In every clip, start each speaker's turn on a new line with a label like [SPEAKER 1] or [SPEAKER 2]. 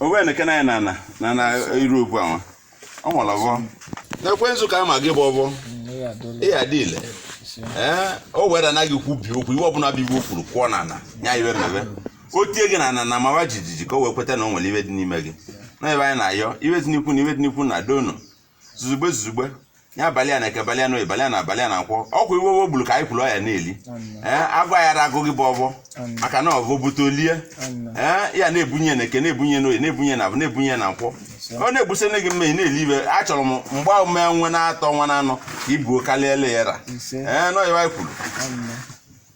[SPEAKER 1] owe na
[SPEAKER 2] kena na na na na iru obu awon o mo lowo na kwe nzu ka ma ge bobo e ya dile eh o we da na gị kwubie okwu ive ọbụna bi wo furu kụọ na ana nya ive mebe o tie gị na ana ana mawa jijiji ka o wee kweta na o nwere ive dị n'ime gị na ive anyị na-ayọ ibe dị n'ikwu na ibe dị n'ikwu na dono zuzugbe zuzugbe ya abalị ya na eke abalị ya na oyi abalị ya na avọ abalị ya na nkwọ ọkwa ive ọvọ gburu ka anyị kwuru ọ ya na-eli ee agụụ aya agụ gị bụ ọvọ maka na ọvọ bute o lie ee ya na-ebunye na eke na-ebunye na oyi na-ebunye na avọ na-ebunye na nkwọ ọ na-egbuse nye gị mme ị na-eli ive achọrọ m mgbe ahụ mee nwe na-atọ nwa na anọ ka ibuo karịa ele ya ra Ise. ee n'ọ ya anyị kwuru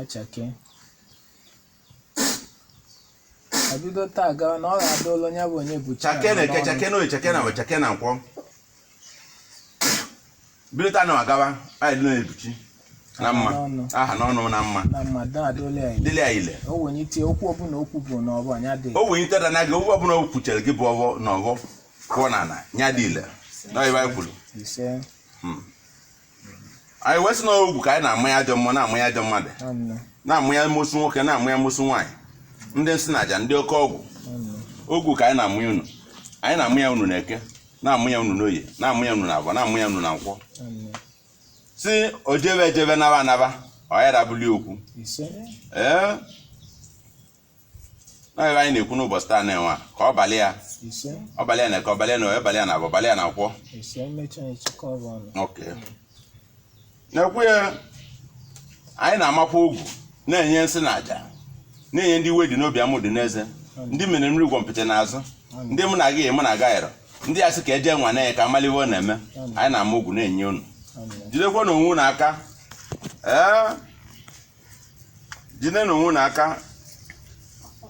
[SPEAKER 1] achake ebido taa gawa na ọ ga-adịlị onye bụ onye buchi chake na eke chake na oyi
[SPEAKER 2] chake na avọ chake na nkwọ bido taa na agawa anyị dị na-ebuchi na mma aha n'ọnụ na mma na mmadụ
[SPEAKER 1] adịla ya dịlị ya ile o
[SPEAKER 2] wenye itinye okwu
[SPEAKER 1] ọbụla okwu bụ na ọbụ anya dị o wee iteta na gị
[SPEAKER 2] okwu
[SPEAKER 1] ọbụla
[SPEAKER 2] o kwuchere gị bụ ọvọ na ọvọ kụọ na ana nya dị ile na ọ ive anyị kwuru ise Mm. anyị wee sị na ogu ka anyị na-ama ya ajọ mmụọ na-ama ya ajọ mmadụ na-ama ya amosu nwoke na-ama ya amosu nwaanyị ndị nsi na aja ndị oke ọgwụ ogu ka anyị na-amụ ya unu anyị na-amụ ya unu na eke na-amụ ya unu n'oye na-amụ ya unu na avọ na-amụ ya unu na nkwọ sị o jebe ejebe naba anaba ọ ya dabụli okwu ee n'ive anyị na-ekwu n'ụbọsị taa nụnwa, ka ọ balị ya ise ọ balị ya na eke ọ balị ya na oyi balị ya na avọ ọ balị ya na nkwọ ise mmechi anyị chịkọ ọrụ ọnụ Ok. N'ekwu ya, anyị na-amakwa ogu, na-enye nsi na aja, na-enye ndị iwe dị n'obi amụ dị n'eze, ndị mere n'iru gwọmpịtị n'azụ, ndị mụ na gị mụ na gị ayịrọ, ndị asị ka eje nwanne ka amalụ ive ọ na-eme, anyị na-ama ogu na-enye unu. Amen. Jidekwa na onwe unu aka. Ee, jide na onwe unu aka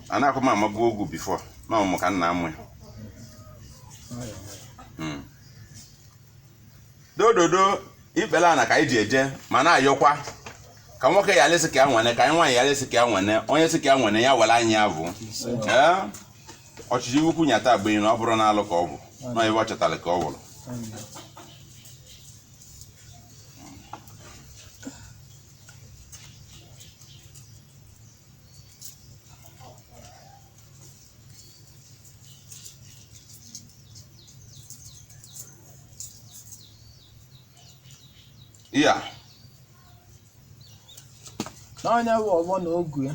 [SPEAKER 2] a na-akwa m amago ogu bifo na ọmụmụ ka nna amụ ya Mm. doo doo doo ikpele ana ka anyị ji eje ma na-ayọkwa ka nwoke ya alịsị ka ya nwene ka anyị nwaanyị ya alịsị ka ya nwene onye sị ka ya nwene ya were anyị ya bụ Ee, ọchịchị ụkwụ nyata be anyị na ọ bụrụ na alụ ka o bu na ebe ọ chọtara ka o buru Amen.
[SPEAKER 1] ya n'anya bụ ọvọ na ogu ya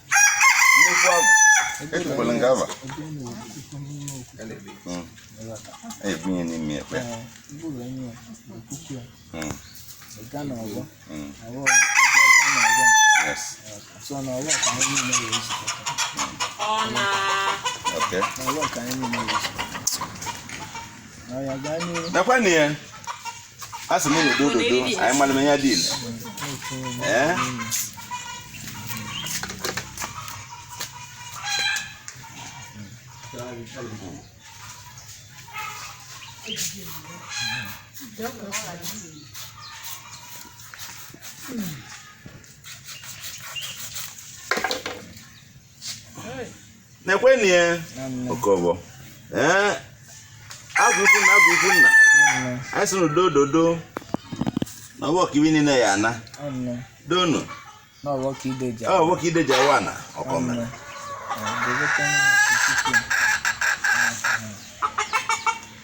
[SPEAKER 2] nnukwu agwụ etukwala nke aba Mm. ebunye n'ime ekpe
[SPEAKER 1] Mm. Mm. yes okay nakwa na ya
[SPEAKER 2] a sị m unu do dodo anyị mara m ihe dị ile ee Mm. na-ekwenụ ya okobo ee azụ ukwu na azụ ukwu nna anyị sị n'udo dodo na ọvọ ka ibi niile ya ana
[SPEAKER 1] donu ọvọ ka ide ji awa ana
[SPEAKER 2] ọkọ mere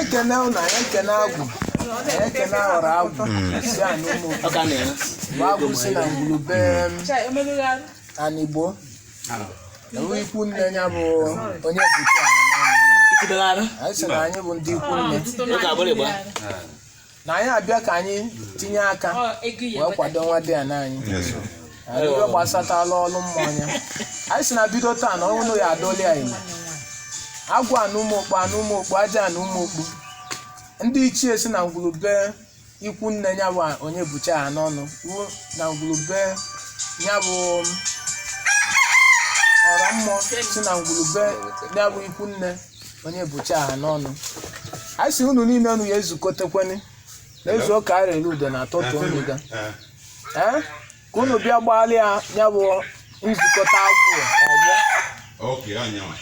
[SPEAKER 1] ekene unu ekene agwụ ekene ọra agwụ si anị ụmụ Ọ ka na-ere. bụ agwụ si na ngwulu be Anigbo bụ ikwu nne ya bụ Onyebuchi Ahanọnụ Itibere arụ. anyị sị na anyị bụ ndị ikwu nne Ọ ga-abụrụ ịgba. na anyị abịa ka anyị tinye aka wee kwado nwadiana anyị arịrịọ gbasatala ọrụ mmụọ ya anyị sị na bido taa na ọnwụ ya adọli ya ime agwụ anị ụmụ ọkpụ aja anị ụmụ ọkpụ ndị ichie si na ngwulu be ikwu nne ya bụ Onyebuchi Ahanọnụ ruo na ngwulu be ya bụ ọra mmụọ si na ngwulu be ya bụ ikwu nne Onyebuchi Ahanọnụ a sị unu niile unu ya ezukọtakwene ezu ụka a rere udo na atụtụ unu ga ee ka unu bịa gbaara ya ya bụ nzukọta agwụ ọgbọ Okay,
[SPEAKER 2] anyanwụ.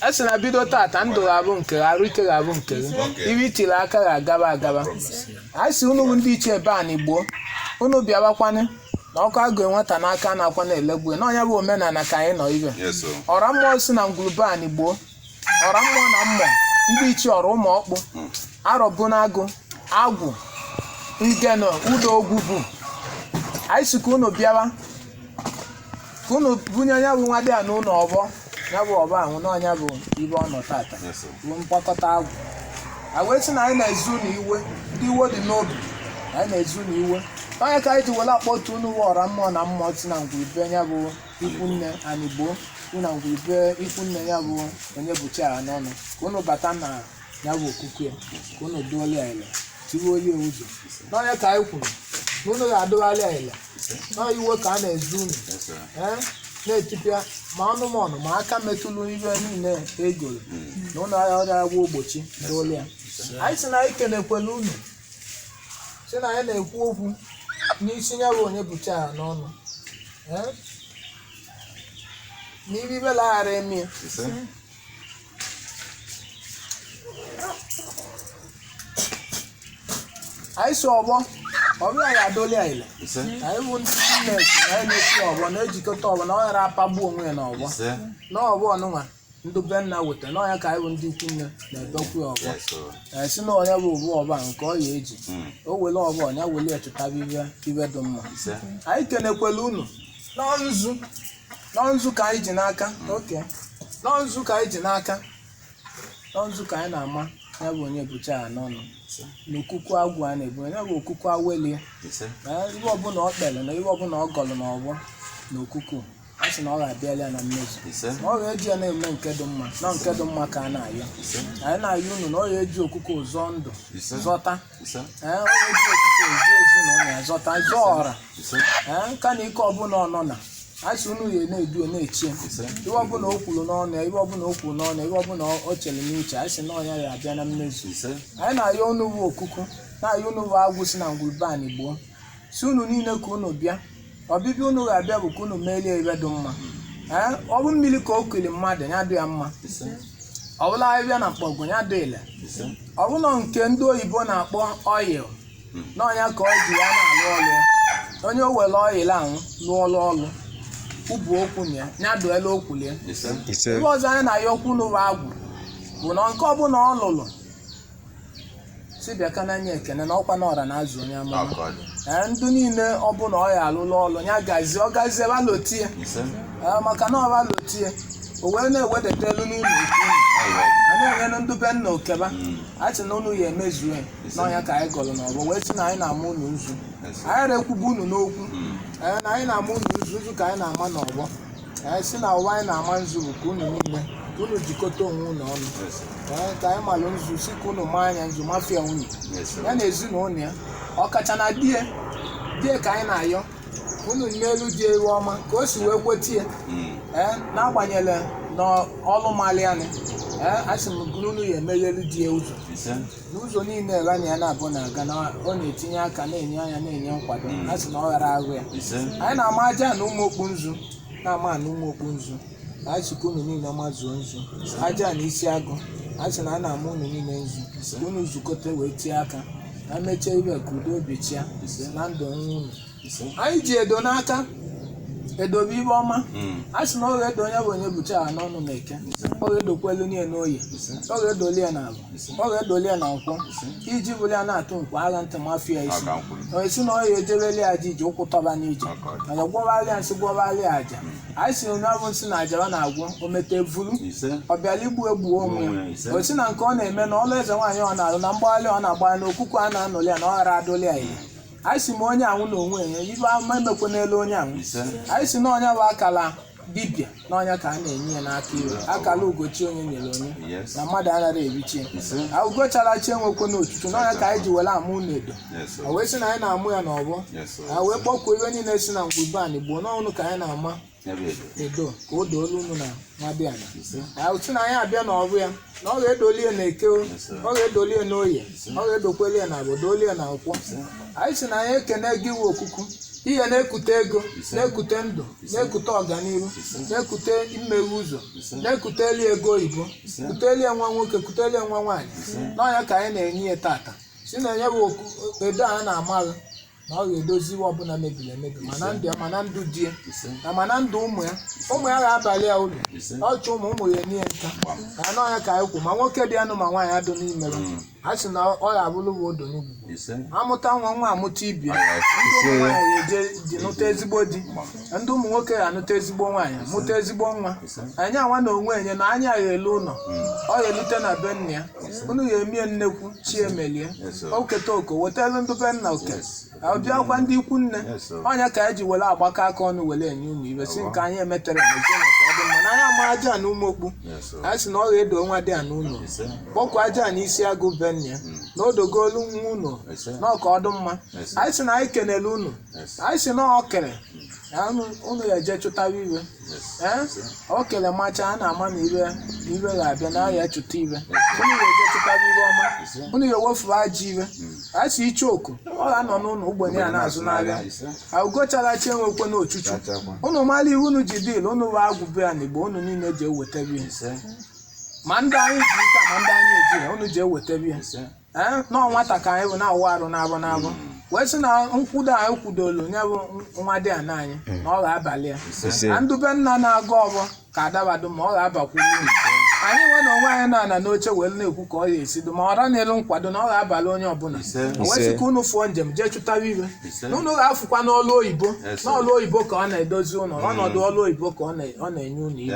[SPEAKER 2] a sị
[SPEAKER 1] na bido tata ndụ ga-abụ nke gị, arụ ike ga-abụ nke gị Okay. ibe i tiri aka ga-agaba agaba a sị unu bụ ndị ichie be Anigbo unu bịawakwanụ na ọkụ a gụọ nwata n'aka a na-akwa na-elegbu ya. na ọ nya bụ omenana ka anyị nọ ibe Yes, sir. ọra mmụọ si na ngwulu be Anigbo ọra mmụọ na mmụọ ndị ichie ọra ụmụ ọkpụ Arọbụnagụ agwụ Ngene Udo Ogwugwu anyị sị ka unu bịawa ka unu bunye ya bụ nwadiana unu ọvọ ya bụ ọvọ ahụ na ọ nya bụ ibe ọ nọ tata Yes, sir. bụ mkpakọta agwụ a wee sị na anyị na-ezu na iwe ndị iwe dị n'obi na anyị na-ezu na iwe ọ ya ka anyị ji were akpọtu unu bụ ọra mmụọ na mmụọ si na ngwulu be ya bụ ikwu nne Anigbo si na ngwulu be ikwu nne ya bụ Onyebuchi Ahanọnụ ka unu bata na ya bụ okukwe ka unu dụalị ya ile tiwe oyi ụzọ na ọ ya ka anyị kwuru na unu ga-adụalị ya ile na iwe ka a na-ezu unu ise ee na-etipịa ma anụmanụ ma aka metụlụ ihe niile e goro na ụlọ ahịa ọrịa agwọ ogbochi doolu ya anyị si na anyị kenekwele unu si na anyị na-ekwu okwu n'isi ya bụ onye bụcha ya n'ọnụ ee n'ive ivele ghara eme ya ise anyị si ọvọ ọbụla ya adịlị anyị ile ise na anyị bụ ndị Chineke na anyị na-esi ọvọ na-ejikọta ọvọ na ọ ghara apagbu onwe ya n'ọvọ ise na ọvọ ọnụnwa ndị be nna weta na ọnya ka anyị bụ ndị ikwu nne na-ebekwu ya ọvọ ise a sị na onye bụ ụbụ ọba nke ọ ya eji Mm. o wele ọvọ ọnya wele ya chụtaba ive ive dị mma ise anyị kenekwele unu na nzu na ọ nzu ka anyị ji n'aka oke na ọ nzu ka anyị ji n'aka na ọ nzu ka anyị na-ama ya bụ onye bụcha ya n'ọnụ na okuku agwụ a na-ebu ya bụ okuku awelie ise na ihe ọbụla ọ kpere na ihe ọbụla ọ gọrọ n'ọvọ na okuku a sị na ọ ga-abịala ya na mmezu ise na ọ ga-eji ya na-eme nke dị mma na nke dị mma ka a na-ayọ ise anyị na-ayọ unu na ọ ga-eji okuku zọọ ndụ ise zọta nka na ike ọbụla ọ nọ na a sị unu ya na-edu na-eche ive ọbụla o kwuru n'ọnụ ya ive ọbụla o kwuru n'ọnụ ya ive ọbụla o chere n'uche anyị sị na ọnya ya abịa na mmezu anyị na-ayọ unu bụ okuku na-ayọ unu bụ agwụ si na ngwuru be anyị gboo sị unu niile ka unu bịa ọbịbịa unu ga-abịa bụ ka unu merie ive dị mma ee ọ bụ mmiri ka o kuli mmadụ ya dị ya mma ọ bụlụ ahịhịa na mkpọgwụ ya dị ile ọ bụlụ nke ndị oyibo na-akpọ oil na ọnya ka ọ ji ya na-alụ ọlụ ya onye o were oil ahụ lụọ ọlụ ọlụ ubu okwu na ya ya dụela okwu ya ise ive ọzọ anyị na-ayọkwu unu bụ agwụ bụ na nke ọbụla ọ lụrụ si bịa ka n'anya ekene na ọkwa na ọra na-azụ onye amụma Akọ dị. ee ndị niile ọbụna ọ ya alụlụ ọlụ ya gazie ọ gazie balotie Ise. ee maka na ọ balotie o wee na-ewedata elu n'ụlọ ikwu unu. Ayo. a na-enyenụ ndị be nna okeba Mm. a sị na unu ya emezuo ya n'ọnya ka anyị gọrọ n'ọvọ wee sị na anyị na-ama unu nzu Ise. anyị rekwubu unu n'okwu Mm. ee na anyị na-ama unu nzu nzu ka anyị na-ama n'ọvọ anyị sị na ụwa anyị na-ama nzu bụ ka unu niile ka unu jikọta onwe unu ọnụ Ee, ka anyị malụ nzu sị ka unu maa anya nzu mafia unu ya na ezinụlọ ya ọkacha na di ya di ya ka anyị na-ayọ unu meelu di ya ive ọma ka o si wee kweta ya ee n'agbanyeghị na ọlụ malianị ee asị m gụrụ unu ya emeghelu di ya ụzọ n'ụzọ niile ebe anyị ya na-abụ na-aga na ọ na-etinye aka na-enye anya na-enye nkwado a sị na ọ ghara ahụ ya ise anyị na-ama Ajana Ụmụokpu nzu na-ama ana Ụmụokpu nzu na anyị sị ka unu niile mazuo nzu Ajana Isiagụ a sị na a na-ama unu niile nzu ka unu zukọta wee tie aka na mechie ibe ka udo obi chịa na ndụ onwe unu Ise. anyị ji edo n'aka edo bụ ive ọma Mm. a sị na ọ ga-edo onye bụ onye bụcha ha n'ọnụ na eke ọ ga-edokwelu nye n'oye Ise. ọ ga-edoli ya na avọ ọ ga-edoli ya na nkwọ iji bụrụ ya na-atụ nkwọ agha ntị mafia isi Aka nkwulu. onye si na ọ ya-ejebeli aja iji ụkwụ tọba n'ije Aka ọjị. mana gwọbalị ya nsị gwọbalị ya aja anyị si nya bụ nsị na aja ọ na-agwọ o mete vuru Ise. ọ bịara igbu egbuo onwe Onwe ya, ise. ya o si na nke ọ na-eme na ọlụ eze nwaanyị ọ na-alụ na mgbagharị ọ na-agbagharị na okuku a na-anụli ya na ọ ghara adụli ya ire anyị si ma onye anwụ na onwe nye ive ama emekwe n'elu onye anwụ anyị si na ọ nya bụ akala dibịa na ọ nya ka a na-enye ya n'aka iwe akala ugo chi onye nyere onye Yes. na mmadụ anaghị evichi ya Ise. Ah, ugo chara acha enwekwena ochuchu na ọ nya ka anyị ji were ama unu edo Yes, sir. o wee sị na anyị na-ama ya n'ọgbọ Yes, sir. a wee kpọkuo ive niile si na ngwu be anị gboo nọnụ ka anyị na-ama ya bụ edo edo ka o doolu unu na nwadiana sị na anyị abịa na ọrụ ya na ọ ga-edoli ya na eke o, Yes, sir. ọ ga-edoli ya na oye ọ ga-edokweli ya na avọ doli ya na nkwọ anyị si na anyị ekene gị bụ okuku ihe na-ekute ego Yes, sir. na-ekute ndụ Yes, sir. na-ekute ọganihu Yes, sir. na-ekute mmeghe ụzọ Yes, sir. na-ekuteli e ego oyibo Yes, sir. kuteli ya nwa nwoke kuteli ya nwa nwaanyị sir. na ọ nya ka anyị na-enye ya tata si na nya bụ oku- edo a na-ama gị na ọ ga-edozi ihe ọbụla mebiri emebi ma na ndụ ya ma na ndụ di ya na ma na ndụ ụmụ ya ụmụ ya ga-abalị ya uru ọ chụ ụmụ ụmụ ya enye ya nka na ọ nya ka anyị kwu ma nwoke dị anụ ma nwaanyị adụ n'ime ya a sị na ọ ga-abụrụ va udo n'ugwu amụta nwa nwa amụta ibe ya ndị ụmụ nwaanyị ga-eje di nụta ezigbo di ndị ụmụ nwoke ga-anụta ezigbo nwaanyị mụta ezigbo nwa nya nwa na onwe nye na nya ya-elu ụlọ ọ ga-elute na be nne ya unu ya-eme nnekwu chi emelie Yes, sir. o keta oke wetara ndị be nna oke Yes. abịakwa ndị ikwu nne Yes, sir. ọ nya ka anyị ji were agbakọ aka ọnụ were enye unu ive si nke anyị emetero mezie na ka ọ dị mma na anyị ama Ajana Ụmụọkpụ Yes, sir. anyị si na ọ ga-edo nwadiana unu Ise. kpọkwa Ajana Isiagụ be nne ya na o dogolu nwa unu Yes, sir. na ọ ka ọ dụ mma Yes, sir. anyị si na anyị kenere unu Yes. anyị si na ọ kere na unu- unu ya-eje chụtawa ive Ee? o kele macha a na-ama na ive na ive ga-abịa na ya chụta ive unu ga-eje chụtara ive ọma unu ga-ewefuru ajọ ive a sị iche oku ọ ga-anọ n'ụlọ ogbenye a na-azụ n'ahịa ugo chara acha enwekwena ochuchu unu mara ive unu ji dịlị unu bụ agwụ be ya n'igbo unu niile ji ewetebe ya ma ndị anyị ji ike ma ndị anyị eji ya unu ji ewetebe ya ee na ọ nwata ka anyị bụ na-awụ arụ n'avọ n'avọ wee sị na nkwudo anyị kwudolu nye bụ nwadiana anyị na ọ ga-abalị ya Ise. na ndụ be nna na-agọ ọvọ ka ọ dabadụ ma ọ ga-abakwu uru anyị nwa na onwe anyị na-anọ n'oche wee na-ekwu ka ọ ya-esi dị mma ọ ra n'elu nkwado na ọ ga-abalị onye ọbụla o wee sị ka unu fụọ njem jee chụtara ive na unu ga-afụkwa n'ọlụ oyibo n'ọlụ oyibo ka ọ na-edozi ụlọ ọnọdụ ọlụ oyibo ka ọ na- ọ na-enye unu ive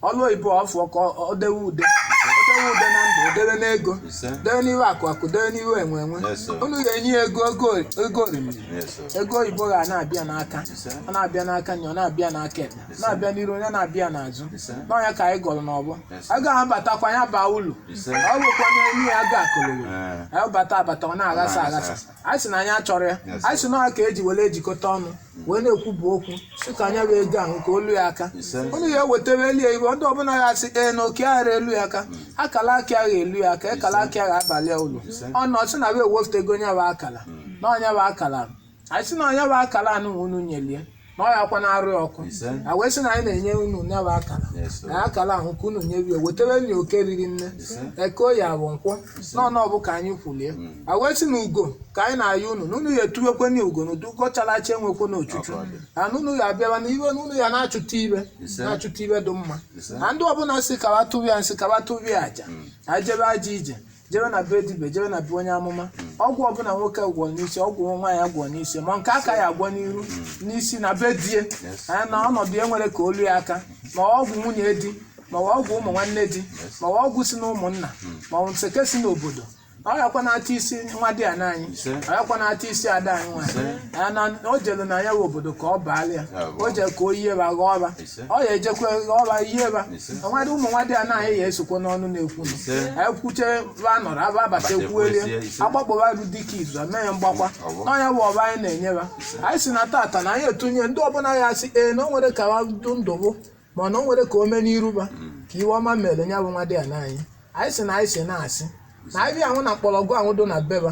[SPEAKER 1] ọlụ oyibo ọfụ ka ọ dewe ude o dewe ude na ndụ o dewe n'ego Ise. dewe n'iwe akụ akụ dewe n'iwe enwe enwe Yes, sir. unu ga-enye ya ego ego ego orimiri Yes, sir. ego oyibo ga na-abịa n'aka Ise. ọ na-abịa n'aka nri ọ na-abịa n'aka ekpe Ise. na-abịa n'iru onye na-abịa n'azụ Ise. na ọ nya ka anyị gọrọ n'ọfọ Ise. a ga-abatakwa ya baa ụlọ Ise. ọ bụkwa na enyi ya ga akụlụghị Eh. anyị bata abata ọ na-aghasa Ọ na-aghasa aghasa anyị sị na anyị achọrọ ya Yes, anyị sị na ọ ka e ji were ejikọta ọnụ wee na-ekwubu okwu sị ka nya bụ ego ahụ ka o lu ya aka unu ya ewetara elu ya iwe ndị ọbụla ya sị ee na oke aghara elu ya aka akala aka agha elu ya aka akala aka agha abalụ ya ulu ọ na ọ sị na ba ewepụtago nya bụ akala na ọ nya bụ akala anyị sị na ọ nya bụ akala anụ ma unu nyelie na ọ ya kwa na-arụ ya ọkụ Ise. a wee sị na anyị na-enye unu nya bụ akala Yes, sir. na akala ahụ ka unu nyebie wetara anyị oke riri nne Ise. Eke Oye Afọ Nkwọ n'ọnụ ọfọ ka anyị kwulie a wee sị na ugo ka anyị na-ayọ unu na unu ya etuwekwe nya ugo na ọdụ ugo chalacha enwekwena ochuchu Ọ ka ọ dị. na na unu ya abịawa na iwe na unu ya na-achụta ibe Ise. na-achụta ibe dị mma Ise. na ndị ọbụla sị ka wa tụrụ ya nsị ka wa tụrụ ya aja na jebe ajọ ije jebe na be dibie jebe na be onye amụma ọgwụ ọbụla nwoke gwọ n'isi ọgwụ nwaanyị agwọ n'isi ma nke a ka ya agwọ n'iru n'isi na be di e Yes. na ọnọdụ ya nwere ka o lu ya aka ma ọgwụ nwunye di ma ọ ọgwụ ụmụ nwanne di ma ọ ọgwụ si na ụmụnna ma ọ nseke si n'obodo ọ yakwa na-ata isi nwadiana anyị Ise. ọ yakwa na-ata isi ada anyị nwanyị Ise. Ya na o jelu na ya wụ obodo ka ọ baala ya Ya bụ. o jee ka o yie ba ghọọ ba Ise. ọ ya ejekwa ghọọ ba yie ba Ise. nwadị ụmụ nwadiana anyị ya esokwa n'ọnụ na-ekwu nụ Ise. anyị kwuche ba nọrọ aba abata Bata ekwuelie ekwuezie, ise. agbakpọba ru dịka izu a mee ya mgbakwa Ọ bụ. na ọ nya bụ ọfọ anyị na-enye ba anyị sị na tata na anyị etunye ndị ọbụla ya asị ee na o nwere ka ha du ndụ bụ mana o nwere ka o mee n'iru ba ka iwe ọma mere nya bụ nwadiana anyị anyị sị na anyị si na-asị na abịa ahụ na mkpọrọgwụ ahụ dụ na be ba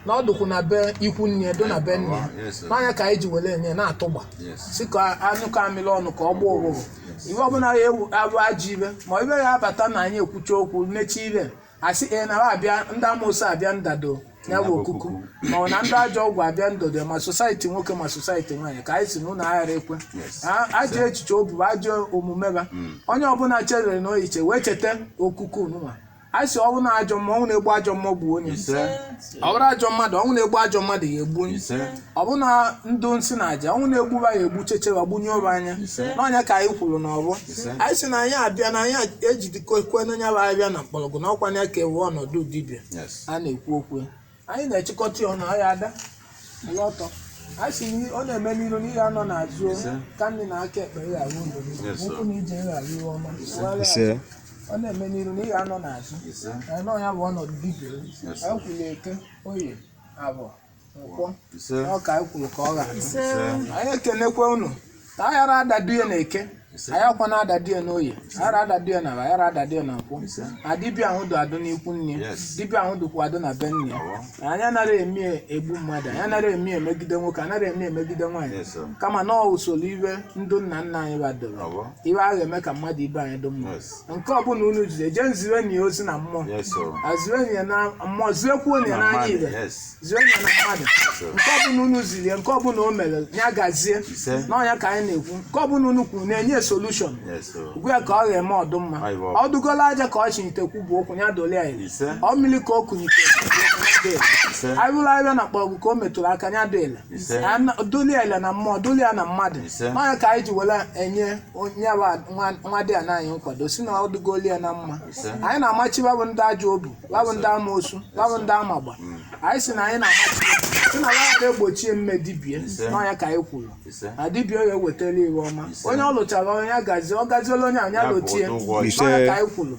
[SPEAKER 1] na ọ dụkwụ na be ikwu nne ya dụ na be nne ya Yes, sir. na ọ nya ka anyị ji were enye na-atụgba Yes. sị ka a nyụkọ amịrị ọnụ ka ọ gbaa ụfụfụ iwe ọbụla ya ewu abụ ajọ ibe ma ibe ya abata na anyị ekwucha okwu mechibe a sị e na abịa ndị amoosu abịa ndado ya bụ okuku ma ọ na ndị ajọ ọgwụ abịa ndado ma sosaiti nwoke ma sosaiti nwaanyị ka anyị sị na unu aghara ekwe Yes. A- ajọ echiche ọ bụ ajọ omume ba onye ọbụla chere echiche wee cheta okuku nwa anyị sị ọ bụ na ajọ mmụọ ọnwụ na-egbu ajọ mmụọ gbuo onye Ise. ọ bụrụ ajọ mmadụ ọnwụ na-egbu ajọ mmadụ ya egbu onye ise ọ bụ na ndị nsị na aja ọnwụ na-egbu ba ya egbuchecha ba gbunyụ ba anya Ise. na ọ nya ka anyị kwuru n'ọfọ Ise. anyị sị na anyị abịa na anyị ejidekwe nya bụ abịa na mkpọrọgwụ na ọkwa ya ka ewe ọnọdụ dibịa yes a na-ekwu okwu ya. anyị na-echịkọta ya ọnụ ọ ya ada ụlọ ọtọ anyị sị n'i- ọ na-eme n'iru n'ihe anọ n'azụ Ise. aka nri na aka ekpe ya arụ ndụ Yes, sir. ụkwụ na ije ya arụ ọma Ise. ọ na-eme n'iru na ị ga-anọ n'azụ ise Ee, nọ ya bụ ọnọdụ dibia Yes. anyị kwuru eke oye abọ nkwọ ise ọ ka anyị kwuru ka ọ ga-adụ ise anyị ekenekwa unu ka a ghara adadu ya na eke Ise. anyị akwa na adadu ya na oye a ghara adadu ya na abọ, a ghara adadu ya na nkwọ Ise. na dibia ahụ dụ adụ n'ikwu nne Yes. dibia ahụ dụkwa adụ na be nne Awa. na anyị anaghị eme egbu mmadụ anyị anaghị eme emegide nwoke anaghị eme emegide nwaanyị Yes, sir. kama na ọ usoro iwe ndị nna nna anyị badoro Awa. iwe a ga-eme ka mmadụ ibe anyị dị mma Yes. nke ọbụla unu jide jee zirenụ ya ozi na mmụọ Yes, sir. Ah, zirenụ ya na mmụọ zirekwuo ya n'anya Mmadụ, ibe yes. zirenụ ya na mmadụ sir. nke ọbụla unu ziri ya nke ọbụla o mere ya gazie Ise. n'ọnya ka anyị na-ekwu nke ọbụla unu kwuru na-enye solution Yes, sir. ọ bụ ya ka ọ ga-eme ọ dụ mma Ayi, baba. ọ dụgola aja ka ọ chịnite kwubu okwu ya dụ ile anyị Ise. ọ mmiri ka o kunite Ise. ọ bụrụ abịa na mkpọrọgwụ ka o metụrụ aka ya dụ ile ise na nna- dụlị ya ile na mmụọ dụlị ya na mmadụ Ise. n'ọnya ka anyị ji were enye onye bụ a- nwa- nwadiana anyị nkwado si na ọ dịgoli ya na mma Ise. anyị na-amachi ba bụ ndị ajọ obu ba bụ ndị amoosu ba bụ ndị amagba anyị si na anyị na-amachi ya. si na ya ga-egbochie mme dibia Ise. n'ọnya ka anyị kwuru ise na dibia ya ewetara iwe ọma Ise. onye ọ lụchara onye ya gazie ọ gaziela onye a nya Ya bụ lotie ụgwọ ọlụ. n'ọnya ka anyị kwuru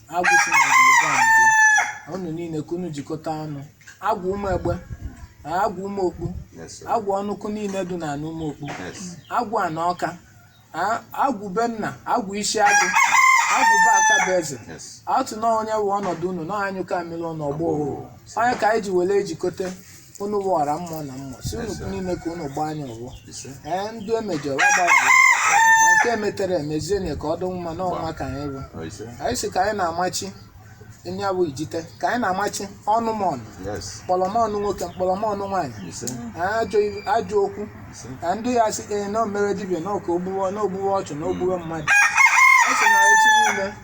[SPEAKER 1] agwụ si na ngwurube a mgbe unu niile ka unu jikọta ọnụ agwụ ụmụ egbe na agwụ ụmụ okpu Yes, sir. agwụ ọnụkụ niile dị na ana ụmụ okpu Yes. agwụ ana Ọka a- agwụ be nna agwụ Isiagu agwụ be Akabueze Yes. atụ na ọ nya wụ ọnọdụ unu na anyụkọ mamịrị ọnụ ọ gbọ ọ nya ka anyị ji were ejikọta unu wụ ọra mmụọ na mmụọ si unu niile ka unu gbaa anya ọgbọ ise ee ndị e mejọrọ gbaghara na nke e metere emezienye ka ọ dị mma na ọnwa ka anyị bụ ọ ise anyị si ka anyị na-amachi nya bụ ijite ka anyị na-amachi ọnụ m ọnụ yes mkpọrọ m ọnụ nwoke mkpọrọ m ọnụ nwaanyị ise ajọ ilu- ajọ okwu ise ka ndị ya sị ee na o mere dibịa na Ọka o gbuwe na o gbuwe ọchụ na o gbuwe mmadụ ọ sị na echi niile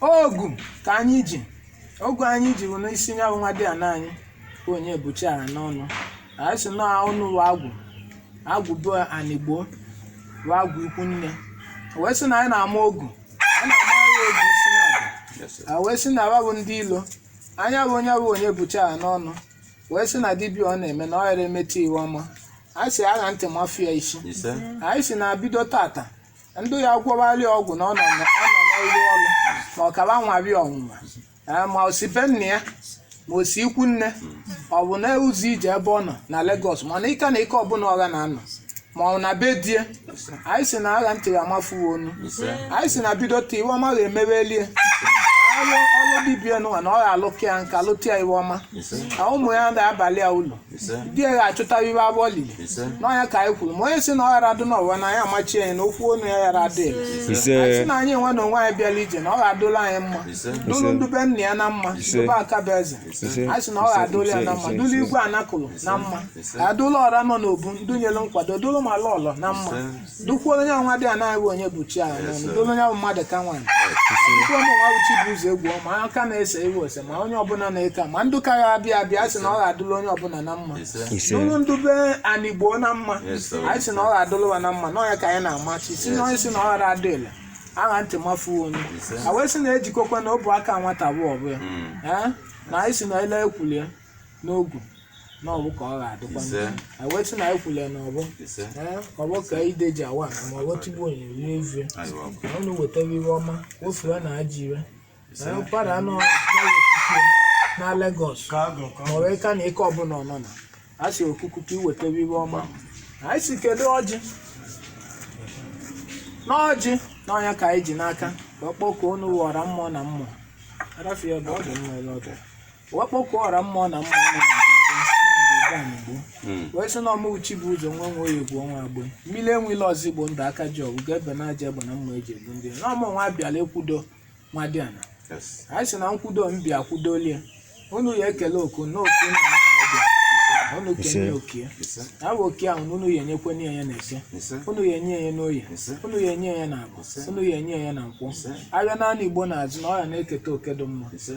[SPEAKER 1] ogu ka anyị ji ogu anyị ji bụ n'isi ya bụ nwadiana anyị bụ Onyebuchi Aranonu anyị si na unu bụ agwụ agwụ be Anigbo bụ agwụ ikwu nne O wee sị na anyị na-ama ogu anyị na-ama ya ogu isi na agwụ a wee sị na wa bụ ndị ilo nya bụ onye bụ Onyebuchi Aranonu wee sị na dibịa ọ na-eme na ọ yara emete iwe ọma a sị a ghaa ntị mafụ ya isi ise anyị si na bido tata ndị ya gwọwarị ọgwụ na ọ nọ na- ọ nọ n'ọrụ ọrụ ma ọ ka wa nwarị ọnwụnwa Ee, ma o si be nna ya ma o si ikwu nne ọ bụ na ụzọ ije ebe ọ nọ na Lagos mana ike na ike ọbụla ọ ga na-anọ ma ọ na be di e anyị si na a ghaa ntị ya a mafụwe onu anyị si na bido taa iwe ọma ga-emeweli e ọrụ ọrụ dibia nụwa na ọ ga-alụka ya nka lụta ya iwe ọma na ụmụ ya na-abalị ya ulu ise di ya achụta iwe a bụ olili ise n'ọ nya ka anyị kwuru ma onye si na ọ ghara adụ n'ụwa na anyị amachi anyị na okwu ọnụ ya ghara adị ile. anyị ise si na anyị nwa na onwe anyị bịara ije na ọ ga-adụla anyị mma ise dụlụ ndụ be nna ya na mma Ise. ndụ be Akabueze ise anyị si na ọ ga-adụla ya na mma Ise. dụlụ Igwe Anakụlụ na mma Ise. adụla ọra nọ n'obu ndụ nyere nkwado dụlụ ma lọlọ na mma Dụkwuo onye nwadiana anyị bụ Onyebuchi anyị n'ọnụ dụlụ onye bụ mmadụ ka nwaanyị dụkwuo onye ọnwa bụ chi bụ ụzọ egwu ọma onye ka na-ese iwe ose ma onye ọbụla na-eke ma ndụ ka ya abịa abịa sị na ọ ga-adụla onye ọbụla na mma ise dụlụ ndụ be anị Igbo na mma anyị sị na ọ ga-adụla ụwa na mma na ọ ya ka anyị na-amachi si na onye si na ọ ghara adị ile agha ntị mafuo onye a wee sị na ejikọkwa na ọfọ aka nwata bụ ọfọ ya Ee? na anyị si na ele e kwulie n'ogu na ọfọ ka ọ ga-adịkwa Ise. a wee sị na e kwule na ọfọ ise ee ọfọ ka ide ji awa ana ma ọfọ tigbu onye rie ezie ayiwa bụ na unu wetara iwe ọma ofue na aji ire ise na ọkpara a nọ na Lagos ma ọ bụ ịka na nke ọbụla ọ nọ na a sị okuku ka i wetara iwe ọma anyị si kedu ọjị n'ọjị n'ọ nya ka anyị ji n'aka wee kpọkuo unu ọra mmụọ na mmụọ arafie bụ ọ dị mma ele ọdụ wee kpọkuo ọra mmụọ na mmụọ nọ na Igbo anyị Igbo Mm. wee sị na ọma uchi bụ ụzọ nwe nwe egwu ọnwa agbe mmiri enwela ọzọ igbo ndụ aka ji ọgụ ga-ebe na aja egbe na mma eji egbu ndị na ọmụ nwa abịala nkwudo nwadiana Yes. anyị sị na nkwudo m bịa kwudolie unu ya ekele oku na oku na aka ọbịa unu kenye oke Ise. ya bụ oke ahụ na unu ya enyekwe nye ya na Eke Ise. unu ya enye ya n'Oye Ise. unu ya enye ya na Afọ unu ya enye ya na Nkwọ Ise. afịa naanọ Igbo na-azụ na ọ ya na-eketa oke dị mma Ise.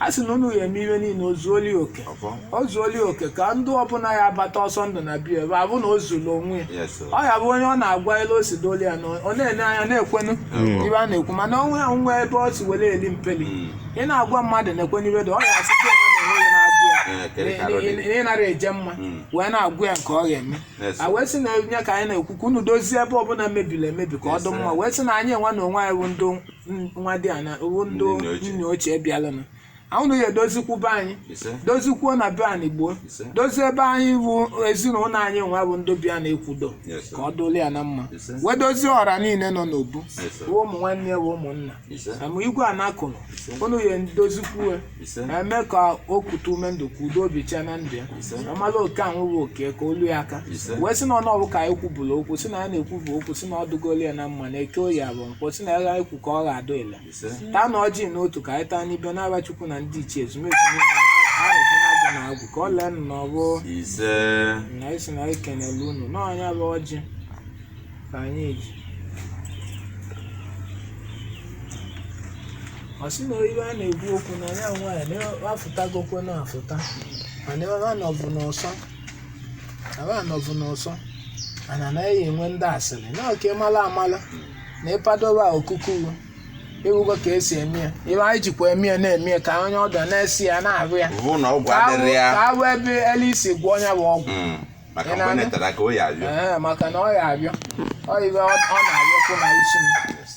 [SPEAKER 1] a sị na unu ya eme iwe niile o zuoli oke Ọfọ. o zuoli oke ka ndụ ọbụla ya abata ọsọ ndụ na be ya ebe ọ bụ na o zuru onwe ya Yes, sir. ọ ya bụ onye ọ na-agwa elu o si doli ya na ọ na-ele anya na-ekwenu iwe a na-ekwu mana onwe ya nwe ebe ọ si were eli mpeli Mm. ị na-agwa mmadụ na-ekwenu iwe dị ọ ya asị gị onwe na onwe ya na-agụ ya Eh, kere ka arụ dị. Ị- ị- ị nara eje mma Mm. wee na-agụ ya nke ọ ga-eme Yes, a sir. wee sị na ọ nya ka anyị na-ekwu ka unu dozie ebe ọbụla mebiri emebi ka ọ Yes, dị mma sir. wee sị na anyị nwa na onwe anyị bụ ndị n- nwadiana bụ ndị Ndị nne ochie. nne ochie bịalụ na unu ya edozikwu be anyị ise dozikwuo na be anyị gboo Ise. dozie be anyị bụ ezinụlọ anyị nwa bụ ndị bịa na nkwudo Yes, sir. ka ọ dụrụ ya na mma Ise. wee dozie ọra niile nọ n'obu Yes, sir. bụ ụmụ nwanne ya bụ ụmụnna ise ma Igwe Anakụlụ unu ya edozikwuo ise eme ka o kute ume ndụ ka udo bichie na ndụ ya Ise. amala oke ahụ bụ oke ka olu ya aka Ise. wee sị na ọ n'ọfọ ka anyị kwubụrụ okwu si na ya na-ekwu bụ okwu si na ọ dụgolu ya na mma na Eke Oye Afọ Nkwọ si na ya ga-ekwu ka ọ ga-adụ ile ise taanụ ọjị n'otu ka anyị taa n'ibe n'afa Chukwu na ndị ichie ezumezu niile na arụsị na agwụ na agwụ ka ọ lee nụ na ọfọ ise na anyị si na anyị kenele unu n'ọ nya bụ ọjị ka anyị ji ọ sị na ife a na-ekwu okwu na ya nwaanyị na afụtagokwe na afụta mana ebe a nọbụ n'ọsọ ebe a nọbụ n'ọsọ anaghị enwe ndị asịrị na oke mala amala na ịpadoba okuku ị fụgo ka esi eme ya ife anyị jikwa eme ya na-eme ya ka onye ọbịa na-esi ya na-arụ ya bụ na ọgwụ ka adịrị ya awụ ebe elu isi gwọọ ya bụ ọgwụ Mm. maka Ị mgbe na-anụ? netara ka o ya abịa Ee, maka na ọ ya abịa ọ ife ọ ọ na-abịakwu na isi m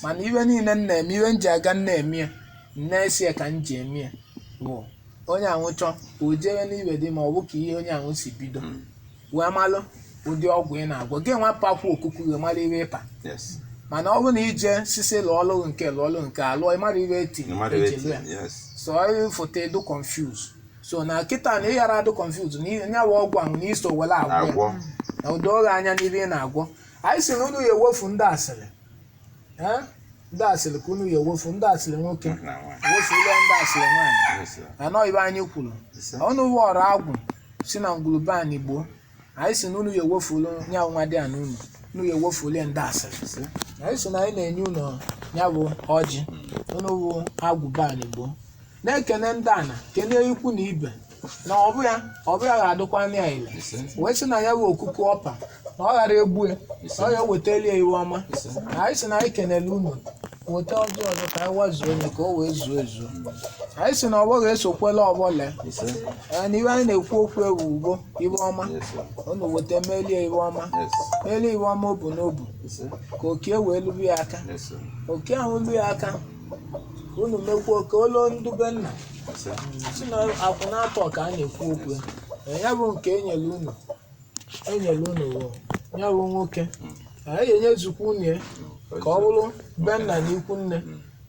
[SPEAKER 1] mana ife niile m na-eme ife m ji aga m na-eme ya m na-esi ya ka m ji eme ya bụ onye ahụ chọọ o jewe n'ife dị ma ọ bụ ka ihe onye ahụ si bido wee malụ ụdị ọgwụ ị na-agwọ gị nwa pakwa okuku gị mara ife ị pa yes mana ọ bụrụ na ị jesisi lụọ ọlụ nke lụọ ọlụ nke alụọ ị mara ife eti no matter eji lụọ ya wetin yes so ọ fụta ị dụ confuse so na kịta na ịghara adụ confuse na ihe nya wụ ọgwụ ahụ na iso were agwọ ya. agwọ na o doo gị anya n'ife ị na-agwọ anyị si na unu ya ewefu ndị asịrị Eh? ndị asịrị ka unu ya ewefu ndị asịrị nwoke wefule ndị asịrị nwaanyị Yes, sir. anọ ife anyị kwuru Yes, sir. ọnụ wọrọ agwụ si na ngwuru be anyị gboo anyị si na unu ya ewefulu ya bụ nwadiana unu unu ya ewefulu ya ndị asịrị anyị si na anyị na-enye unu ya bụ ọjị unu bụ agwụ be anyị gboo na-ekene ndị ana kene ikwu na ibe na ọ bụ ya ọ bụ ya ga-adịkwa anya ya ile wee sị na ya bụ okuku ọ pa na ọ ghara egbu ya na ọ ya ewetali ya ife ọma anyị si na anyị kenele unu weta ọjị ọzọ ka anyị wazuo onye ka o wee zuo ezuo anyị si na ọfọ ga-esokwela ọfọ lee Ise. Ee, na ife anyị na-ekwu okwu ewu ugbo ife ọma Yes, sir. unu weta melie ife ọma Yes. melie ife ọma obu n'obu Ise. ka oke wee lue ya aka Yes, sir. oke ahụ lue ya aka unu mekwuo ka o luo ndụ be nna Ise. si na akwụ na-atọ ka a na-ekwu okwu ya Ee, ya bụ nke e nyere unu anyị nyere unu wụ ya bụ nwoke anyị ga-enyezukwa unu ya ka ọ bụrụ be nna na ikwu nne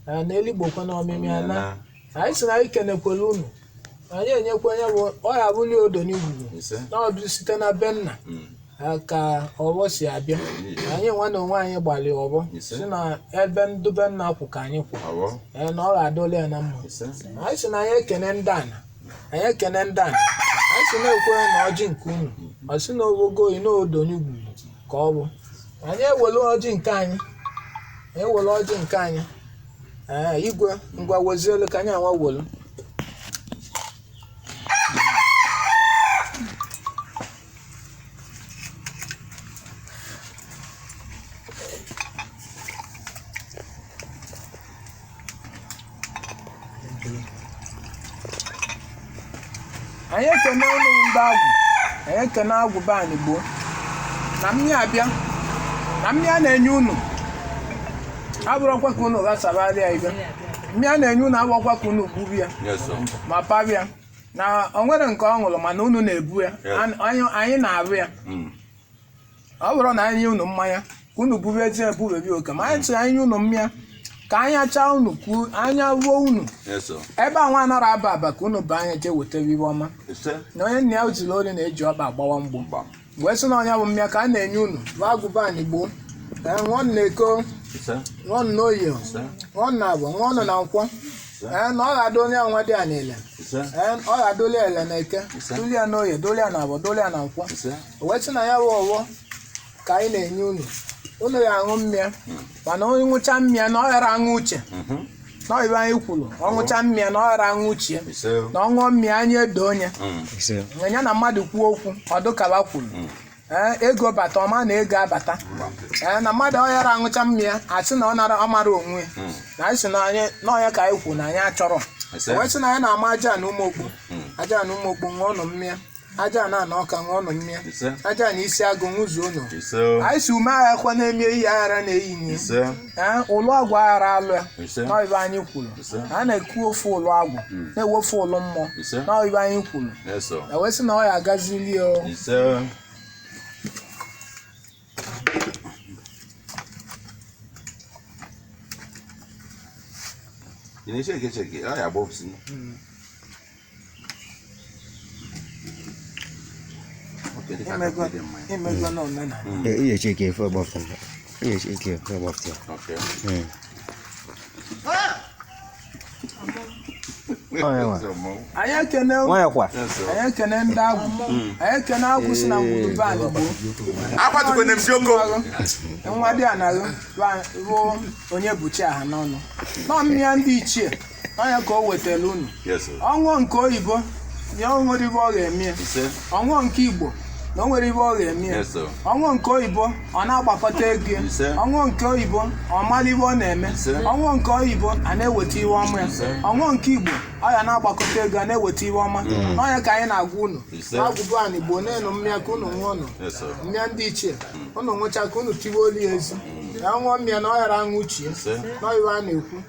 [SPEAKER 1] na na eligbokwa na ọmịmị ana anyị si na anyị kenekwere unu anyị enyekwa ya bụ ọ ya bụli odo n'igwugwu ise na ọ bụ site na be nna Mm. ha ka ọfọ si abịa anyị nwa na onwe anyị gbalị ọfọ Ise. si na ebe ndụ be nna kwụ ka anyị kwụ awọ Ee, na ọ ga-adịlị ya na mma ise anyị si na anyị ekene ndị ana anyị ekene ndị a anyị si na-ekwe na ọjị nke unu ọ sị na ogogo oyi na odo n'igwugwu ka ọ bụ anyị ewere ọjị nke anyị anyị ewere ọjị nke anyị ee igwe ngwa wazielu ka anyị anwa welu anyị ekene unu ndị agwụ anyị ekene agwụ be anyị gboo na mmịa abịa na mmịa a na-enye unu abụrọkwa ka unu ghasabara ya ibe mmịa a na-enye unu abụrọkwa ka unu gbube ya Yes, sir. ma pabịa na o nwere nke ọ ṅụrụ mana unu na-ebu ya Yes. An- anyị anyị na-arụ ya Mm. ọ bụrọ na anyị nye unu mmanya ka unu buru ezi ebubebi oke ma anyị tụrụ anyị nye unu mmịa ka anyị achaa unu ka u- anya ruo unu eso ebe a nwa anara aba aba ka unu baa anya jee wetara ive ọma ise na onye nna ya ziri ori na-eji ọkpa agbawa mgbo gbam wee sị na ọ nya bụ mmịa ka a na-enye unu bụ agwụ be anyị gboo ee ṅụọ nụ na eke ise ṅụọ nụ na oye ise ṅụọ nụ na avọ ṅụọ nụ na nkwọ ee na ọ ga-adụli ya nwadiana ile ise ee ọ ga-adụli ile na eke Ise. dụli ya na oye dụli ya na avọ dụli ya na nkwọ ise O wee sị na ya bụ ọvọ ka anyị na-enye unu unu ya aṅụ mmịa mana onye ṅụcha mmịa na ọ ghara aṅụ uche Mhm. na ọ ive anyị kwuru ọ ṅụcha mmịa na ọ ghara aṅụ uche Ise. na ọ ṅụọ mmịa anya edo onye Mm. ise ya na mmadụ kwuo okwu ọ dụ ka o kwuru ee ego bata ọ ma na ego abata ee na mmadụ ọ ghara aṅụcha mmịa asị na ọ nara ọ mara onwe ya. Mm. na anyị sị na anyị na ọ ya ka anyị kwuru na anyị achọrọ Ise. O wee sị na anyị na-ama Ajana Ụmụokpu Ajana Ụmụokpu ṅụọ nụ mmịa Ajana ana Ọka ṅụọ nụ mmịa ise Ajana Isiagụ ṅụzuo nụ ise anyị si ume agha kwa na-eme ihe aghara na-eyi nye ise ee ụlụ agwụ aghara alụ ya ise na ive anyị kwuru Ise. na a na-ekwu ofu ụlụ agwụ na-ewefu ụlụ mmụọ Ise. na ive anyị kwuru ise o wee sị na ọ ya agazili ya o. ise ị na-echeke echeke ọ
[SPEAKER 3] ya gbopsi ihe eche ka efe ọgbafta ihe eche ka efe
[SPEAKER 2] ọgbafta
[SPEAKER 1] anyị ekene nwanyị kwa anyị ekene ndị agwụ anyị ekene agwụ si na ngwuru be anyị gboo akwatugo na esi oko nwadiana bụ Onyebuchi Ahanọnụ nọ mmịa ndị ichie ọ nya ka o wetara unu Yes, sir. ọ ṅụọ nke oyibo ya o nwerọ ive ọ ga-eme ya. Ise. ọ ṅụọ nke Igbo na o nwerọ ive ọ ga-eme ya. Yes, sir. ọ ṅụọ nke oyibo ọ na-agbakọta ego ya. Ise. ọ ṅụọ nke oyibo ọ mara ive ọ na-eme Ise. ọ ṅụọ nke oyibo a na-eweta ive ọma ya Ise. ọ ṅụọ nke Igbo ọ ya na-agbakọta ego a na-eweta ive ọma na ọ nya ka anyị na-agwa unu Ise. agwụ be anyị gboo nanụ mmịa ka unu ṅụọ nụ Yes, sir. mmịa ndị ichie unu ṅụcha ka unu tiwe olu ya ezi ya ṅụọ mmịa na ọ ghara aṅụ uche ya Ise. na ọ ive a na-ekwu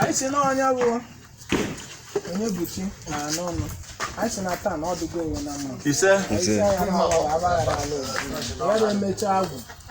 [SPEAKER 1] anyị sị na onye bụ onye buchi na anụ ọnụ anyị sị na taa na ọ dụgo ewe na mma ise Ise. isi
[SPEAKER 2] anya na
[SPEAKER 1] abaghara ala obodo ya na-emecha agwụ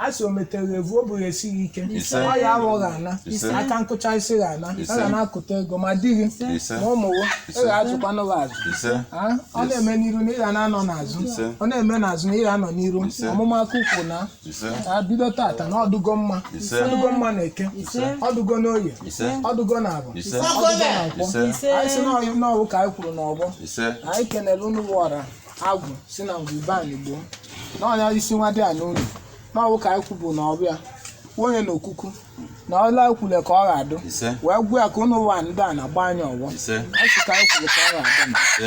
[SPEAKER 1] a sị o metere evu o bụghị esighị ike Ise. ọ ya aghọghị ana Ise. aka nkụcha isi gị ana Ise. a ga na-akụta ego ma di gị Ise. ma ụmụ gị ị Ise. ga-azụkwanụ gị azụ ise Ah, ọ na-eme n'iru na ị ga na-anọ n'azụ Ise. ọ na-eme n'azụ na ị ga-anọ n'iru Ise. ọmụma aka ukwu na ise ka bido tata na ọ dụgo mma Ise. ọ dụgo mma na eke Ise. ọ dụgo n'oye ise ọ dụgo na afọ ise ọ dụgo na nkwọ ise anyị sị na ọyị- na ọ wụ ka anyị kwuru n'ọfọ ise anyị kenere unu wọra agwụ si na ngwu be anyị gboo na ọ nya isi nwadiana unu na ọ wụ ka anyị kwubu na ọ bịa onye na okuku na ọla ekwule ka ọ ga-adụ ise wee gwa ya ka unu ụwa ndị a na-agba anyị ọfọ ise anyị sị ka anyị kwule ka ọ ga-adụ na ise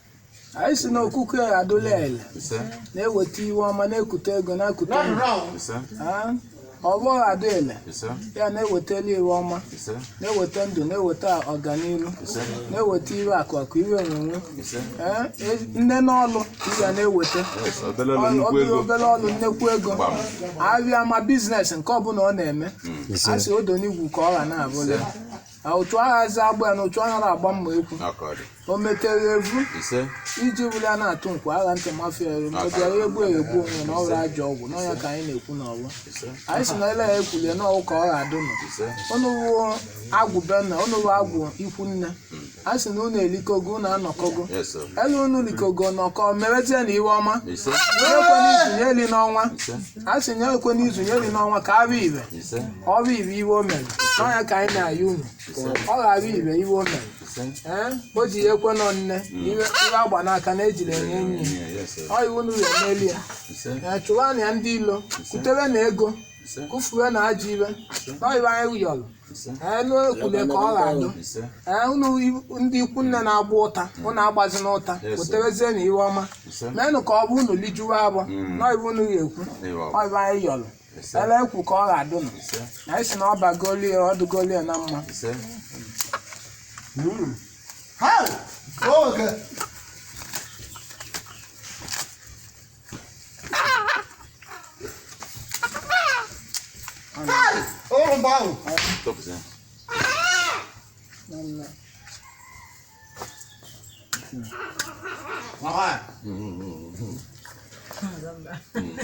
[SPEAKER 1] anyị sị na okuku adụla ele ise na-eweta iwe ọma na-ekute ego na-ekute ego ise Ah, ọfọ ga-adụ ele ise ya na-ewetalụ iwe ọma ise na-eweta ndụ na-eweta ọganihu ise na-eweta iwe akụ akụ iwe enwenwe ise Eh, e- nne n'ọlụ ka ị ga na-eweta yes obele ọlụ Ọ- nnukwu obere ego obere ọlụ nnekwu ego Gbam. a bịa ma business nke ọ bụla ọ na-eme a sị odo n'igwu ka ọ ga na-abụla na otu agha eze agbụ ya na otu agha na-agba mma ekwu ọkọdị o metere evu ise iji wuli a na-atụ nkwa agha ntị mafia eri ma ọ bịara egbu egbu onwe na ọrụ ajọ ọgwụ na ọ nya ka anyị na-ekwu n'ọfọ ise anyị sị na ele ya ekwulie na ọ wụ ka ọ ga-adụ nụ ise unu wụ agwụ be nna unu wụ agwụ ikwu nne a sị na unu elikọgo unu anọkọgo yes sir. ele unu likọgo nọkọ merezie na iwe ọma ise onye kwe n'izu ya eli n'ọnwa ise a sị ya ekwe n'izu nya eri n'ọnwa ka arụ ibe ise ọrụ ibe iwe o mere na ọ nya ka anyị na-ayọ unu ọ ghara ibe iwe o mere ise ee o ji ya ekwe nọ nne iwe iwe agba n'aka na ejiri enye enyi ya Yeah, yes, sir. ọ iwe unu emeli ya ise ee chụwa na ya ndị ilo kutewe na ego ise kufuwe na ajọ iwe na ọ iwe anyị yọrọ ise anụ ekwule ka ọ ga-adụ ise ee unu i- ndị ikwu nne na-agba ụta unu agbazina ụta Yes, sir. weterezie na iwe ọma ise meenụ ka ọ bụ unu lijuwe afọ Mm. na iwe unu ga-ekwu ịwa ọ iwe anyị yọrọ ise ele ekwu ka ọ ga-adụ nụ ise na anyị sị na ọ bagolie ọ dụgolie na mma ise Ha! Oge!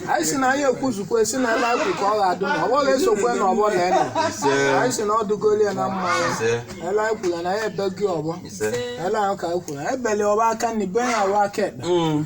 [SPEAKER 1] anyị si na anyị ekwuzukwa si na ele ahụ ka ọ ga-adụ na ọgbọ ga-esokwe na ọgbọ na enu Ise. anyị si na ọ dụgolu ya na mma ya Ise. ele anyị kwuru na ya ebeghi ọgbọ Ise. ele ahụ ka anyị kwuru ebeli ọba aka nri be ya ọba aka ekpe Mm.